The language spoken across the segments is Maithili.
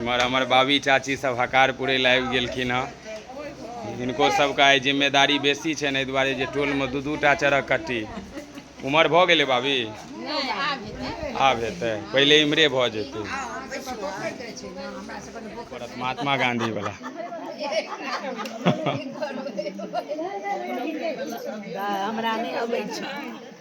एम्हर हमर बाबी चाची सब हकार पुरै लए आबि गेलखिन हँ हिनको सबके आइ जिम्मेदारी बेसी छनि एहि दुआरे जे टोलमे दू दू टा चरक कट्टी उमर भऽ गेलै बाबी आब हेतै पहिले इम्हरे भऽ जेतै पड़त महात्मा गांधी वाला हमरा नहि अबै छै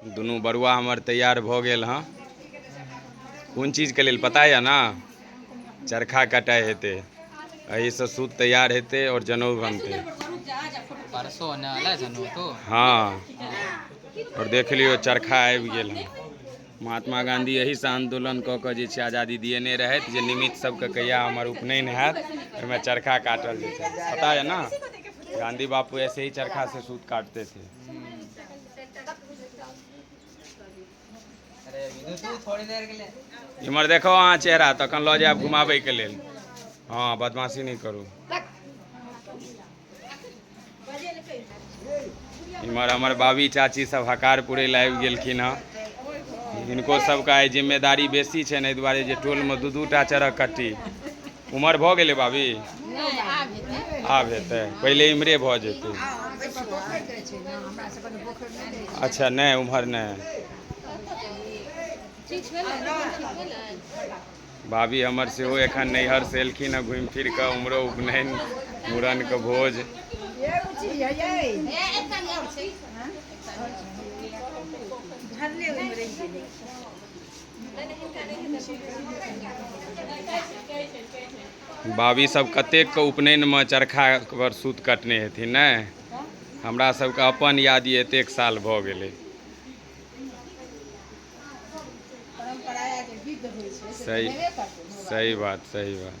दुनू बरुआ हमर तैयार भऽ गेल हँ कोन चीजके लेल पता यऽ ने चरखा कटाइ हेतै एहिसँ सूत तैयार हेतै आओर जनउ बनतै हँ आओर देख लियौ चरखा आबि गेल हँ महात्मा गाँधी एहिसँ आन्दोलन कऽ कऽ जे छै आजादी दिएने रहथि जे निमित्त सबके कहिया हमर उपनयन हैत ओहिमे चरखा काटल जेतै पता यऽ ने गाँधी बापू ऐसे ही चरखा से सूत काटते थे इम्हर देखो अहाँ चेहरा तखन लऽ जायब घुमाबैके लेल हँ बदमाशी नहि करू इम्हर हमर बाबी चाची सब हकार पुरै लए आबि गेलखिन हँ हिनको सबके आइ जिम्मेदारी बेसी छनि एहि दुआरे जे टोलमे दू दू टा चरक कट्टी उमर भऽ गेलै बाबी आब हेतै पहिले इमरे भऽ जेतै अच्छा नहि उम्हर नहि भाभी हमर सेहो एखन नैहर से एलखिन हँ घुमि फिर कऽ उमरो उपनयन मूड़न के भोज बाबी सब कतेक के उपनयन में चरखा पर सूत कटने हेथिन ने हमरा सबके अपन याद ये एतेक साल भऽ गेलै सही सही बात सही बात